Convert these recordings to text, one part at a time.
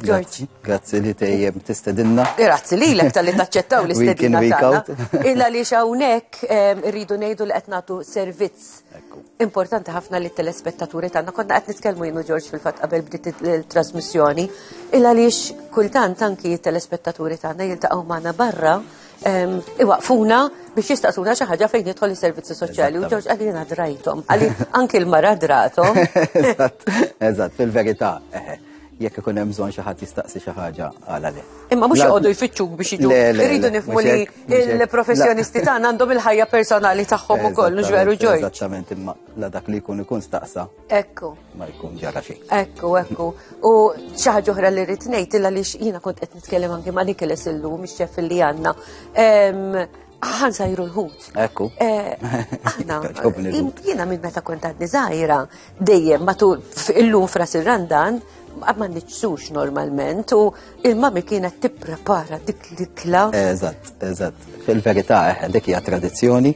George. Grazzi li tejjem tistedinna. Grazzi li l-ek tal-li taċċettaw li stedinna tagħna. Illa li xawnek ehm, rridu ngħidu li qed nagħtu servizz importanti ħafna li telespettaturi tagħna. Konna qed nitkellmu jienu George fil-fatt qabel bdiet il-trasmissjoni. Illa li kultant anki telespettaturi tagħna jiltaqgħu magħna barra ehm, iwaqfuna biex jistaqsuna xi ħaġa fejn jidħol is-servizzi soċjali u George għalina drajthom, għalli anki l-mara drathom. Eżatt, fil-verità. Eh, eh. Jekk ikun hemm bżonn xi ħadd jistaqsi xi ħaġa għala le. Imma mhux joqogħdu jfittxuk biex jiġu. Irridu nifmu li il-professjonisti tagħna għandhom il-ħajja personali tagħhom ukoll, mhux veru ġoj. Eżattament, imma la dak li jkun ikun staqsa. Ekku. Ma jkun ġara xejn. Ekku, ekku. U xi ħaġa oħra li rrid ngħid illa li jiena kont qed nitkellem anke ma' Nikolas illum, ix-xef li għandna. Għan sajru l-ħut. Ekku. Eh, aħna, jina minn meta kont għadni zaħira, dejjem matul illum fras il-randan, ma nitsux normalment u il-mami kienet tipprepara dik l-ikla. Eżatt, eżatt. Fil-verità, eh, dik hija tradizzjoni.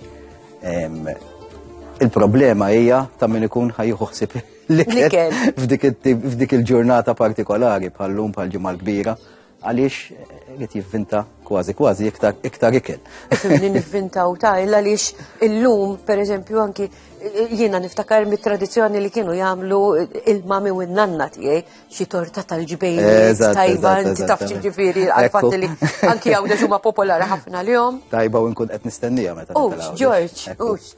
Il-problema hija ta' min ikun ħajjuħu ħsib l-ikel f'dik il-ġurnata partikolari bħal-lum bħal-ġimgħa l-kbira Għaliex qed jivvinta kważi kważi iktar iktar ikel. Li nivvinta u ta' illa għaliex illum, per eżempju, anki jiena niftakar mit-tradizzjoni li kienu jagħmlu il-mami u n-nanna tiegħi xi torta tal-ġbejn tajba inti taf ġifieri għal-fatt li anki hawn huma popolari ħafna lihom. Tajba u nkun qed nistennija meta. Ux, Ġorġ, ux.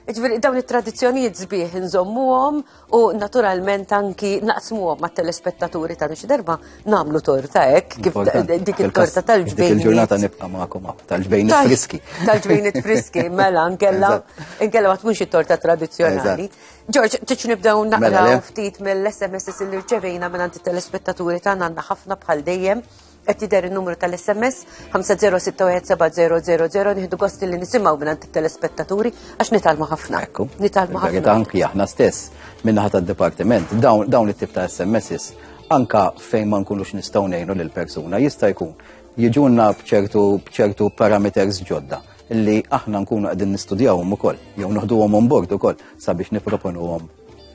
Ġifieri dawn it-tradizzjonijiet sbieħ inżommuhom u naturalment anki naqsmu ma' telespettaturi ta' nix darba namlu torta ek, kif dik il-torta tal-ġbejn. Il-ġurnata nibqa ma'kom tal-ġbejn friski. Tal-ġbejn friski, mela, nkella, nkella ma tkunx torta tradizjonali. Ġorġ, tiċ nibdaw naqra mela, ftit mill-SMS li rċevejna minn għand telespettaturi ta' nanna ħafna bħal dejjem. qed jidher in-numru tal-SMS 5061700 nieħdu gost li nisimgħu minn it-telespettaturi għax nitalmu ħafna. Ekku. Nitalmu ħafna. Verità anki aħna stess minnaħa tad-dipartiment dawn it-tip ta' SMSs anka fejn ma nkunux nistgħu ngħinu lil persuna jista' jkun jiġunna bċertu bċertu parameters ġodda li aħna nkunu qegħdin nistudjawhom ukoll jew noħduhom on board ukoll sabiex nipproponuhom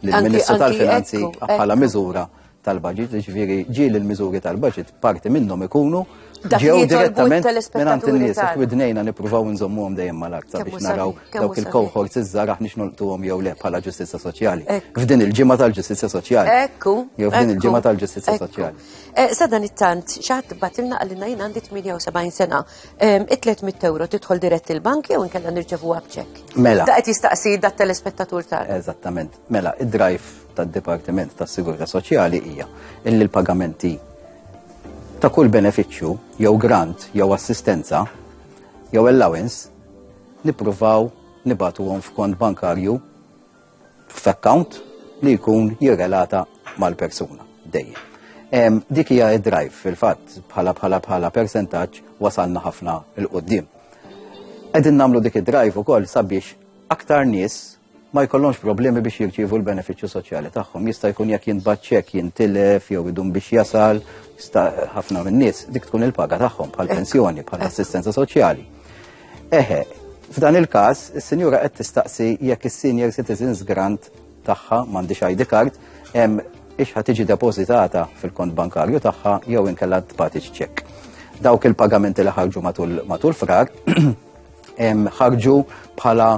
lill-Ministru tal-Finanzi bħala miżura tal-budget, ġviri ġil il-miżuri tal-budget, parti minnhom ikunu ġew direttament minn għand in-nies qed widnejna nippruvaw nżommuhom dejjem mal-aktar biex naraw dawk il-cohorts iż-żar aħniex nolqtuhom jew le bħala ġustizzja soċjali. F'din il-ġimgħa tal-ġustizzja soċjali. Ekku. Jew f'din il-ġimgħa tal-ġustizzja soċjali. Eh, Sadan it-tant, xaħat batilna għallina jien għandi 78 sena. It-300 euro tidħol dirett il-bank jew nkella nirċevu għabċek. Mela. Da qed jistaqsi da telespettatur tal. Eżattament. Mela, id-drive tad-Dipartiment tas-Sigurtà Soċjali hija illi l-pagamenti ta' kull benefiċċju jew grant jew assistenza jew allowance nippruvaw nibatuhom f'kont bankarju f'account li jkun jirrelata mal-persuna dejjem. Dik hija id-drive fil-fatt bħala bħala bħala percentaġġ wasalna ħafna il qoddim Qegħdin nagħmlu dik id-drive ukoll sabiex aktar nies ma jkollhomx problemi biex jirċievu l-benefiċċju soċjali tagħhom. Jista' jkun jekk jintbagħat ċek jintilef jew idum biex jasal, jista' ħafna min-nies dik tkun il-paga tagħhom bħal pensjoni, bħal assistenza soċjali. Eħe, f'dan il-każ, is-sinjura qed tistaqsi jekk is-senior citizens grant tagħha m'għandix ID card hemm ixħa tiġi depożitata fil-kont bankarju tagħha jew inkella tbati ċek. Dawk il-pagamenti li ħarġu matul frar ħarġu bħala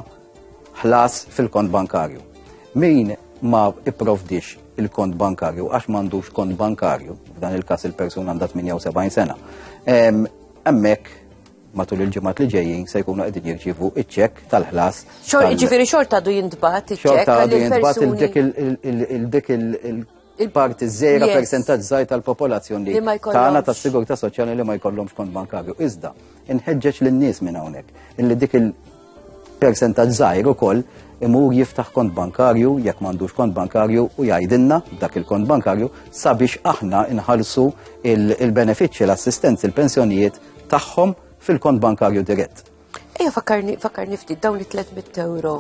ħlas fil-kont bankarju. Min ma ipprovdix il-kont bankarju għax m'għandux kont bankarju, f'dan il-każ il-persuna għandha 78 sena. Hemmhekk matul il-ġimgħat li ġejjin se jkunu qegħdin jirċievu iċ-ċekk tal-ħlas. Ġifieri xorta du jintbagħat iċ-ċekk. Xorta du jintbagħat il-dik il il-parti żejra yes. percentaġġ żgħir tal-popolazzjoni li tagħna tas-sigurtà soċjali li ma jkollhomx kont bankarju. Iżda, inħeġġeġ lin-nies minn hawnhekk illi dik il-percentaġġ żgħir ukoll imur jiftaħ kont bankarju jekk m'għandux kont bankarju u jgħidilna dak il-kont bankarju sabiex aħna inħallsu il-benefiċċji l-assistenzi il-pensjonijiet tagħhom fil-kont bankarju dirett. Ejja fakkarni fakkarni ftit dawn li 300 euro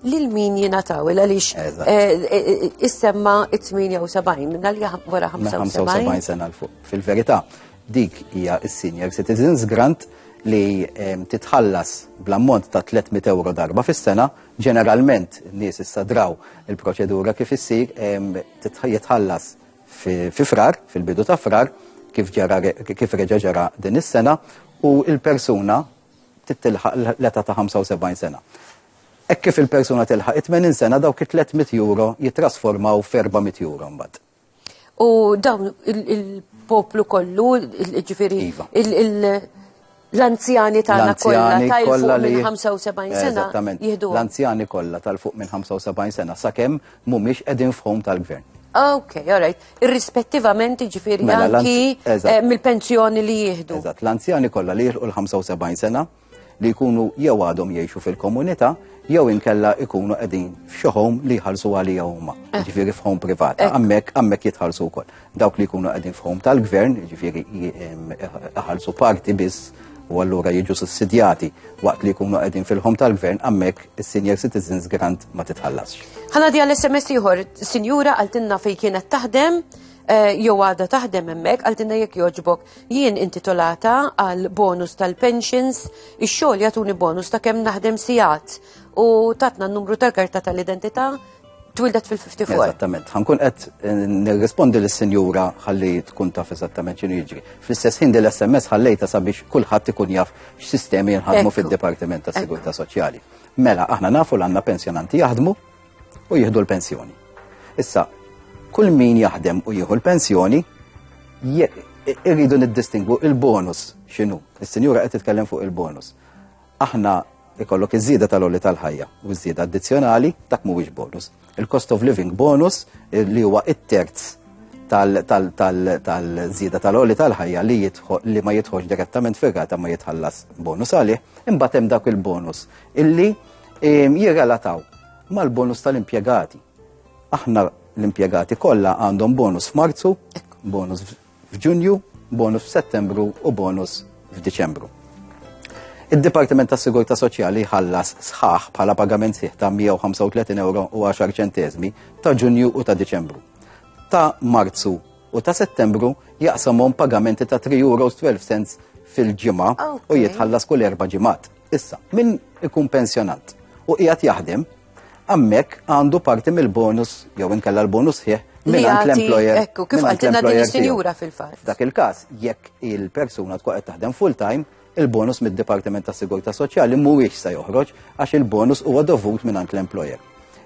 lil min jingħataw il għaliex eh, eh, eh, issemma 78 dal wara 75 sena l fuq. Fil-verità, dik hija s-senior citizens grant li titħallas bl-ammont ta' 300 euro darba fis-sena, ġeneralment nies issa draw il-proċedura kif issir jitħallas fi Frar, fil-bidu ta' Frar, kif ġara kif reġa' ġara din is-sena u l-persuna titilħaq l-età ta' 75 sena. Hekk kif il-persuna tilħaq 80 sena dawk it-300 euro jitrasformaw f'400 euro mbagħad. U dawn il-poplu kollu, ġifieri iva. il L-anzjani tagħna kollha tal-fuq minn 75 sena. Eżattament. L-anzjani kollha tal-fuq minn 75 sena sakemm mhumiex qegħdin f'home tal-gvern. Ah, ok, all right. Irrispettivament ġifiri mela, anki eh, mill-pensjoni li jihdu. Eżat, l-anzjani kollha li jilqu l-75 sena li jkunu jew għadhom jgħixu fil-komunità jew inkella ikunu qegħdin f'xi li jħallsu għalija huma, eh. ġifieri f'home privat. Hemmhekk eh. hemmhekk jitħallsu wkoll. Dawk li jkunu qegħdin f'ħom tal-gvern, ġifieri iħallsu parti biss u allura jiġu sussidjati waqt li jkunu qegħdin fil-ħom tal-gvern hemmhekk is-senior citizens grant ma titħallasx. Ħana di għall-SMS ieħor, sinjura għaltinna fejn kienet taħdem eh, jew għada taħdem hemmhekk għaltinna jekk joġbok jien intitolata għal bonus tal-pensions, ix-xogħol jagħtuni bonus ta' kemm naħdem sigħat u tatna n-numru tal-karta tal-identità Twildet fil-54. Eżattament. Ħankun qed eh, nirrispondi lis sinjura ħalli tkun taf eżattament x'inhu jiġri. Fl-istess ħin l-SMS ħallejta sabiex kulħadd ikun jaf x'sistemi jinħadmu fid-Dipartiment tas Sigurtà Soċjali. Mela, aħna nafu l għandna pensjonanti jaħdmu u jieħdu l-pensjoni. Issa, kull min jaħdem u jieħu l-pensjoni, irridu niddistingwu il-bonus x'inhu. Is-sinjura qed titkellem fuq il-bonus. Aħna ikollok iż-żieda tal-għoli tal-ħajja u ż-żieda addizzjonali, dak mhuwiex bonus. Il-cost of living bonus li huwa it-terz tal-żieda tal-għoli tal-ħajja li li ma jidħolx direttament fir-rata ma jitħallas bonus għalih, imbagħad hemm dak il-bonus illi ehm, jirrelataw mal-bonus tal-impjegati. Aħna l-impjegati kollha għandhom bonus f'Marzu, bonus f'Ġunju, bonus f'Settembru u bonus f'Diċembru. Id-Dipartiment tas-Sigurtà Soċjali ħallas sħaħ bħala pagament sieħ ta' 135 euro u 10 ċentesmi ta' Ġunju u ta' Diċembru. Ta' Marzu u ta' Settembru jaqsamhom pagamenti ta' 3 euro 12 cents fil-ġimgħa u jitħallas kull erba' ġimgħat. Issa, min ikun pensjonat u qiegħed jaħdem Hemmhekk għandu parti mill-bonus jew inkella l-bonus sħiħ minn l-employer. Ekku, kif għaltilna din is-sinjura fil-fatt. Dak il-każ, jekk il-persuna tkun qed taħdem full-time, il-bonus mid-Dipartiment tas Sigurtà Soċjali mhuwiex se joħroġ għax il-bonus huwa dovut minn l-employer.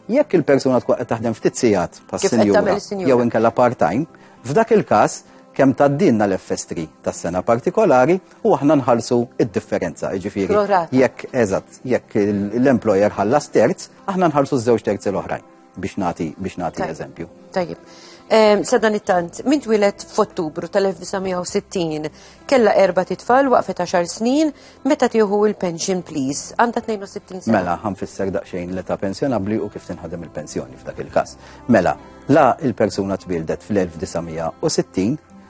Jekk il-persuna tkun qed taħdem ftit sigħat pas-sinjura jew inkella part-time, f'dak il-każ kemm taddinna l-FS3 tas-sena partikolari u aħna nħallsu id-differenza, jiġifieri. Jekk eżatt, jekk l-employer ħallas terz, aħna nħallsu ż-żewġ terzi l-oħrajn biex nagħti biex nagħti eżempju. Tajjeb. Ehm, Sadan it-tant, minn twilet f'Ottubru tal-1960 kella erba titfal waqfet 10 snin meta tieħu il-pension please għandha 62 sena. Mela, ħanfisser daqsxejn l-età pensjonabbli u kif tinħadem il-pensjoni f'dak il-każ. Mela, la il-persuna tbildet fl-1960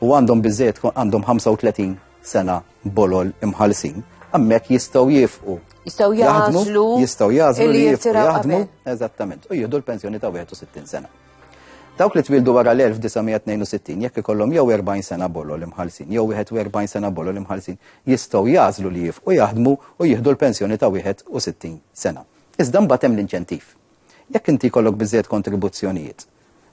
u għandhom biżejjed għandhom 35 sena bolol imħalsin, għammek jistaw jifqu. Jistaw jazlu. Jistaw jazlu li jifqu jaħdmu. Eżattament. U jihdu l-pensjoni ta' 61 sena. Dawk li twildu wara l-1962 jekk ikollhom jew 40 sena bolol imħalsin, jew 41 sena bolol imħalsin, jistgħu jażlu li jifqu jaħdmu u jieħdu l-pensjoni ta' 61 sena. Iżda mbagħad hemm l-inċentiv. Jekk inti jkollok biżżejjed kontribuzzjonijiet,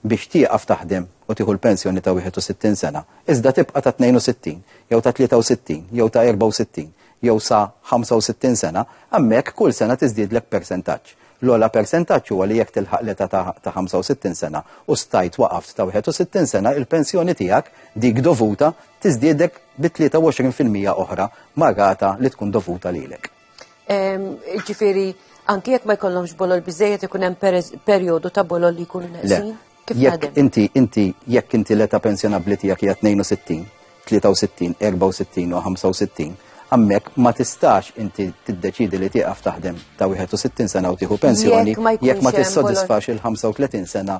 biex tieqaf taħdem u tieħu l-pensjoni ta' 61 sena, iżda tibqa' ta' 62 jew ta' 63 jew ta' 64 jew sa 65 sena, hemmhekk kull sena tiżdiedlek persentaġġ. L-ogħla persentaġġ huwa li jekk tilħaq l-età ta' ta' 65 sena u stajt waqaft ta' 61 sena, il-pensjoni tiegħek, dik dovuta, tiżdiedek bi 23 fil-mija oħra mar-rata li tkun dovuta lilek. Ġifieri anki jekk ma jkollhomx bolol biżejjed ikun hemm perjodu ta' bolol li jkunu neqsin? Jekk inti inti jekk inti l-età pensjonabbli tiegħek hija 62, 63, 64 u 65, hemmhekk ma tistax inti tiddeċidi li tieqaf taħdem ta' 61 sena u tieħu pensjoni jekk ma tissodisfax il-35 sena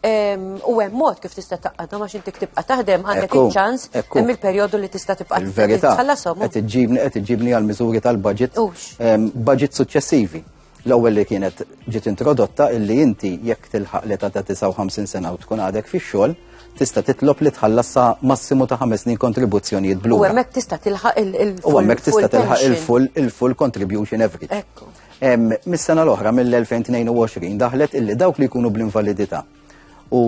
U hemm mod kif tista' taqgħadha ma xinti tibqa' taħdem għandek iċ-ċans hemm il-perjodu li tista' tibqa' Il-verità qed iġġibni qed iġġibni għal miżuri tal-budget budget suċċessivi. L-ewwel li kienet ġiet introdotta illi inti jekk tilħaq l-età ta' 59 sena u tkun għadek fix-xogħol tista' titlob li tħallas sa massimu ta' ħames snin kontribuzzjonijiet blu. U hemmhekk tista' tilħaq il-full. U hemmhekk tista' tilħaq il-full il-full contribution every. Ekku. Mis-sena l-oħra, mill-2022, daħlet illi dawk li jkunu bl-invalidità u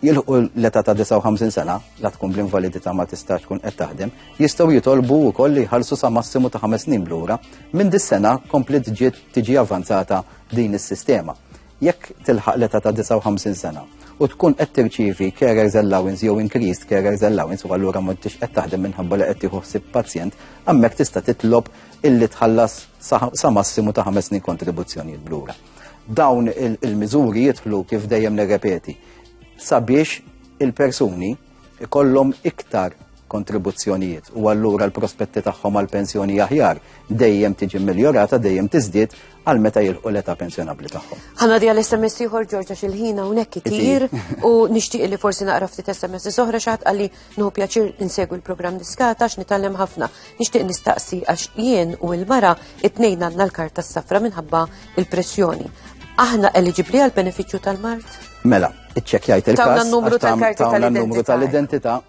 jilħu l-età ta' 59 sena, la tkun bl-invalidità ma tistax tkun qed taħdem, jistgħu jitolbu wkoll li jħallsu sa massimu ta' ħames snin blura. Minn dis-sena komplet ġiet tiġi avanzata din is-sistema. Jekk tilħaq l-età ta' 59 sena u tkun qed tirċievi carers allowance jew increased carers allowance u allura ma tix qed taħdem minħabba li qed tieħu ħsieb pazjent, hemmhekk tista' titlob illi tħallas sa massimu ta' ħames snin kontribuzzjonijiet blura. Dawn il-miżuri jidħlu kif dejjem nirrepeti sabiex il-persuni ikollhom iktar kontribuzzjonijiet u allura l-prospetti tagħhom għal pensjoni aħjar dejjem tiġi miljorata dejjem tiżdied għal meta jilqu l-età pensjonabbli tagħhom. Ħana di għal SMS ieħor Ġorġa xil-ħina hawnhekk itir u nixtieq li forsi naqra ftit SMS oħra xaħat għalli nħu pjaċir insegwu l-programm diskata għax nitgħallem ħafna. Nixtieq nistaqsi għax jien u l-mara it-tnejn għandna l-karta s-safra minħabba il-pressjoni. Aħna eliġibli għal benefiċċju tal-mart? Mela, Iċċekkjajt il-każ. Tawna n-numru tal-karti tal-identità. numru tal-identità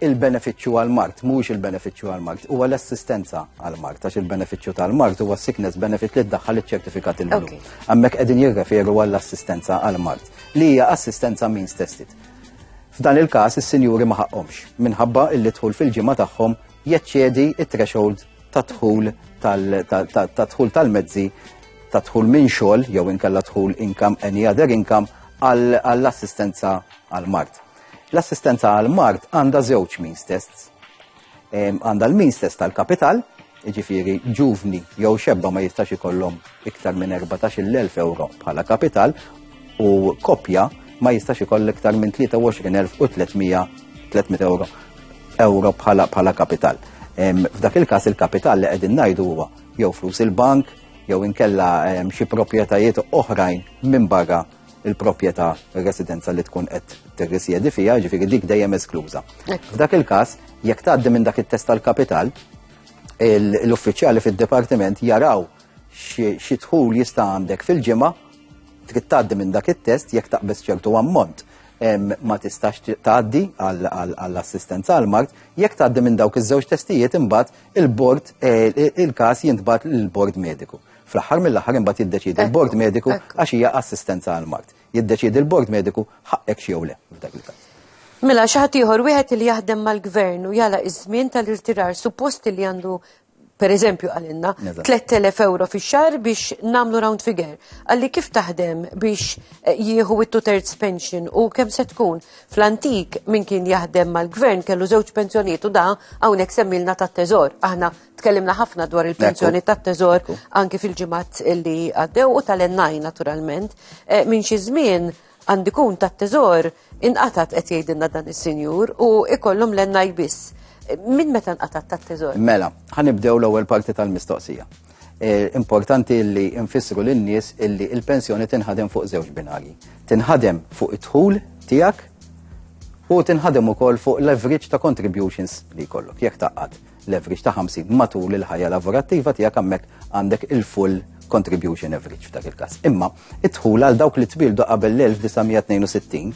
il-benefiċċju għal-mart, mhuwiex il-benefiċċju għal-mart, huwa l-assistenza għal-mart, għax il-benefiċċju tal-mart huwa sickness benefit li ddaħħal iċ-ċertifikat il-blu. Hemmhekk qegħdin jirreferu għall-assistenza għal-mart, li hija assistenza means tested. F'dan il-każ is-sinjuri ma ħaqqhomx minħabba illi dħul fil-ġimgħa tagħhom jeċċedi t-threshold tad-dħul tad-dħul tal-mezzi tad-dħul minn xogħol jew inkella dħul income any other income għall-assistenza għall-mard. L-assistenza għall-mard għandha żewġ means tests. Għandha l-means test tal-kapital, ġifiri ġuvni jew xebba ma jistax ikollhom iktar minn 14.000 euro bħala kapital u kopja ma jistax ikoll iktar minn 23.300 euro. euro bħala kapital. F'dak il-każ il-kapital li qegħdin ngħidu huwa jew flus il-bank, jew inkella xi proprjetajiet oħrajn minn barra il-proprjetà residenza li tkun qed tirrisjedi fiha, ġifieri dik dejjem eskluża. F'dak il-każ, jekk tgħaddi minn dak it-test tal-kapital, l-uffiċjali fid-dipartiment jaraw xi dħul jista' għandek fil-ġimgħa trid tgħaddi minn dak it-test jekk taqbeż ċertu ammont ma tistax tgħaddi għall-assistenza għall-mard, jekk tgħaddi minn dawk iż-żewġ testijiet imbagħad il-bord il-każ jintbagħat lill-bord mediku. Fl-aħħar mill-aħħar imbagħad jiddeċiedi l-bord mediku għax hija assistenza għall-mard. Jiddeċiedi l-bord mediku ħaqqek jew le f'dak il-każ. Mela xi ħadd ieħor wieħed li jaħdem mal-gvern u jala iż-żmien tal-irtirar suppost li għandu per eżempju għalinna, 3000 euro fi xar biex namlu round figure. Għalli kif taħdem biex eh, jieħu it terz pension u kem se tkun fl-antik minn kien jaħdem mal-gvern kellu żewġ pensjoniet u da hawnhekk semmilna tat-teżor. Aħna tkellimna ħafna dwar il-pensjoni tat-teżor anki fil-ġimgħat li għaddew u tal-ennaj naturalment. Eh, minn xi żmien għandikun ta' teżor inqatat qed jgħidilna dan is-sinjur u ikollhom l-enna jbiss. Min meta nqatat ta' teżor? Mela, ħanibdew l-ewwel parti tal-mistoqsija. Eh, importanti li nfissru lin-nies illi il-pensjoni tinħadem fuq żewġ binari. Tinħadem fuq id-dħul tiegħek u tinħadem ukoll fuq l-average ta' contributions li jkollok jekk taqqad l-average ta' 50 matul il-ħajja lavorattiva tiegħek hemmhekk għandek il-full contribution average f'dak il-każ. Imma id-dħul għal dawk li tbildu qabel l-1962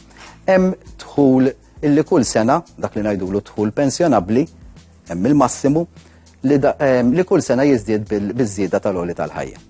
hemm dħul illi kull sena dak li ngħidulu dħul pensjonabbli hemm il-massimu li, li kull sena jiżdied bil-żieda tal-oli tal-ħajja.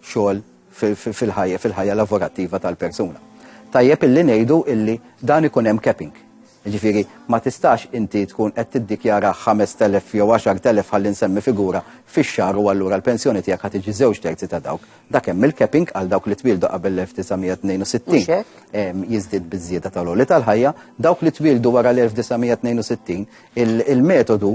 xogħol fil-ħajja lavorattiva tal-persuna. Tajjeb illi ngħidu illi dan ikun hemm capping. Ġifieri ma tistax inti tkun qed tiddikjara 5,000 jew 10,000 ħalli nsemmi figura fix-xahar u allura l-pensjoni tiegħek ħa tiġi żewġ terzi ta' dawk. Dak hemm il-capping għal dawk li twieldu qabel l-1962 jiżdied biż-żieda tal-għoli tal-ħajja, dawk li twieldu wara l-1962 il-metodu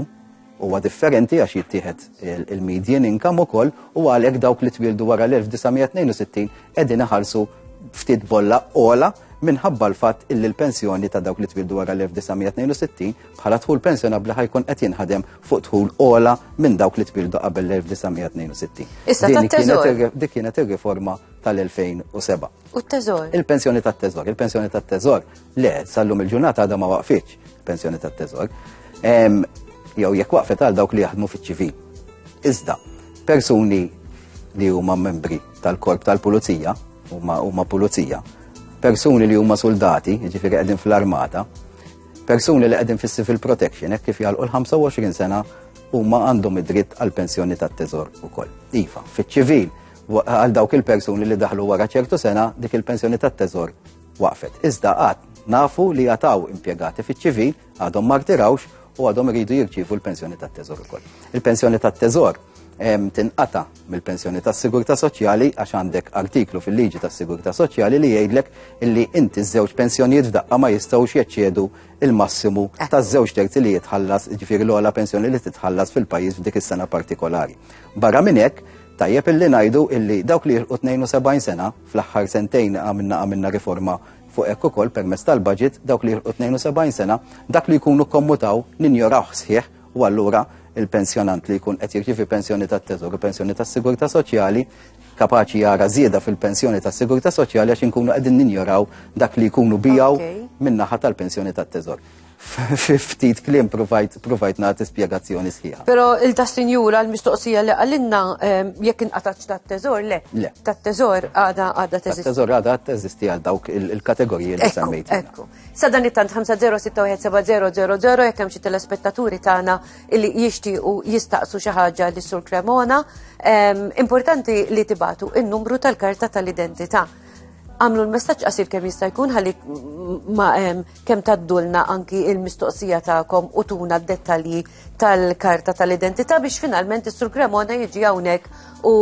huwa differenti għax jittieħed il-median income ukoll u għalhekk dawk li twildu wara l-1962 qegħdin iħarsu ftit bolla ola minħabba l-fatt illi l-pensjoni ta' dawk li twildu wara l-1962 bħala tħul pensjonabbli ħajkun qed jinħadem fuq tħul ola minn dawk li twildu qabel l-1962. Issa tat-teżor. Dik kienet ir-riforma tal-2007. U t-teżor. Il-pensjoni tat-teżor. Il-pensjoni tat-teżor Le, sal-lum il-ġurnata għadha ma waqfitx pensjoni tat-teżor. Jew jekk waqfet għal dawk li jaħdmu fiċ-ċivil. Iżda, persuni li huma membri tal-korp tal-pulizija, huma pulizija, persuni li huma soldati, ġifieri qegħdin fl-armata, persuni li qegħdin fis-civil protection, hekk kif jgħalqu l-25 sena huma għandhom id-dritt għal pensjoni tat-teżor ukoll. Iva, fiċ-ċivil għal dawk il-persuni li daħlu wara ċertu sena dik il-pensjoni tat-teżor waqfet. Iżda għad nafu li għataw impjegati fiċ-ċivil għadhom ma rtirawx u għadhom iridu jirċievu l-pensjoni tat-teżor ukoll. Il-pensjoni tat-teżor tinqata mill-pensjoni tas sigurtà soċjali għax għandek artiklu fil-liġi tas sigurtà soċjali li jgħidlek illi inti żewġ pensjonijiet f'daqqa ma jistgħux jeċċedu il-massimu eh. ta' żewġ terzi li jitħallas ġifieri l-ogħla pensjoni li titħallas fil-pajjiż f'dik is-sena partikolari. Barra minn hekk, tajjeb illi ngħidu illi dawk li jilqu 72 sena Fl-aħħar sentejn għamilna għamilna riforma fuq hekk ukoll permezz tal-budget dawk li jilħqu 72 sena dak li jkunu kommutaw ninjorawh sħiħ u allura il-pensjonant li jkun qed jirċivi pensjoni tat-teżor u pensjoni tas-sigurtà soċjali kapaċi jara żieda fil-pensjoni tas-sigurtà soċjali għax inkunu qegħdin ninjoraw dak li jkunu bijaw min-naħa tal-pensjoni tat-teżor. Fi ftit kliem provajt provajt nagħti spjegazzjoni sħiħa. Però il ta' sinjura l-mistoqsija li għalinna ehm, jekk inqatax ta' teżor le. Le. Ta' teżor għada għada teżisti. Teżor għada teżisti għal dawk il-kategoriji li semmejt. Ekku. Sa dan it-tant 50617000 jekk hemm xi telespettaturi tagħna li jixtiequ jistaqsu xi ħaġa li sur Cremona. Ehm, importanti li tibatu in-numru tal-karta tal-identità għamlu l-messaġġ qasir kemm jista' jkun ħalli ma kemm taddulna anki il-mistoqsija tagħkom u tuna d-dettalji tal-karta tal-identità biex finalment is-Sur Cremona jiġi hawnhekk u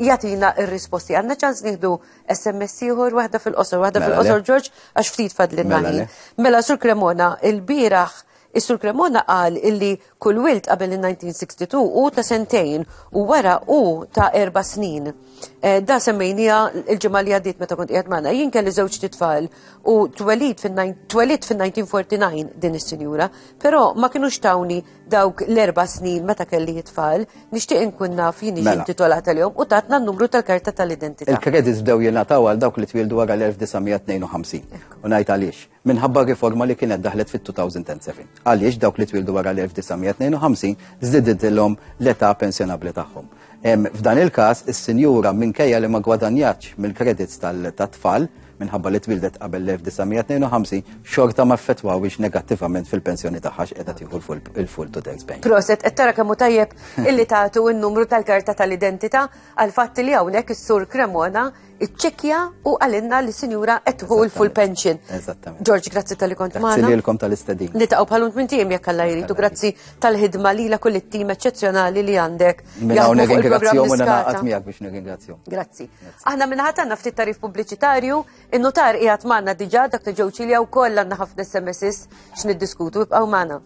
jatina ir-risposti. Għandna ċans nieħdu SMS ieħor waħda fil-qosor, waħda mela fil-qosor Ġorġ għax ftit fadlin mela, mela Sur Cremona, il-bieraħ is-Sur Cremona qal illi Kull wild qabel il-1962 hu ta' sentejn u wara hu ta' erba' snin. Eh, da semmejnija il-ġimgħa li għaddiet meta kont qiegħed magħna. Jien kelli żewġ titfal u twelid fin-1949 din is-sinjura, però ma kinux tawni dawk l-erba' snin meta kelli jitfal, nixtieq inkun naf jien mela. intitolat għalihom u tatna n-numru tal-karta tal-identità. Il-kredits bdew jingħataw għal dawk li twildu wara l-1952. U ngħid għaliex. minħabba r-riforma li kienet daħlet fit-2007, għaliex dawk li twildu wara l-1952 żdidilhom l-età pensjonabbli tagħhom. F'dan il-każ, is-sinjura minkejja li ma gwadanjatx mill-kredits tat-tfal minħabba li twildet qabel l-1952 xorta ma ffettwawiex negattivament fil-pensjoni tagħha x'qiegħda tieħu l-full to tax bank. Proset qed tara kemm tajjeb illi tagħtu n-numru tal-karta tal-identità għal fatt li hawnhekk is-sur Cremona iċċekja u għalinna li sinjura etħu il-full pension. Eżattament. George, grazzi tal-li kont maħna. Grazzi lilkom tal-istadin. Nitaqaw bħalunt minn tim jekk għalla jridu, grazzi tal-ħidma li la kull it-tim eccezjonali li għandek. Minna għu negringrazzjom u naqat miegħek biex negringrazzjom. Grazzi. Aħna minna ħatanna ftit tarif pubbliċitarju, il-notar qiegħed maħna diġà dak li ġewċi li wkoll għandna ħafna SMS x'niddiskutu ibqgħu maħna.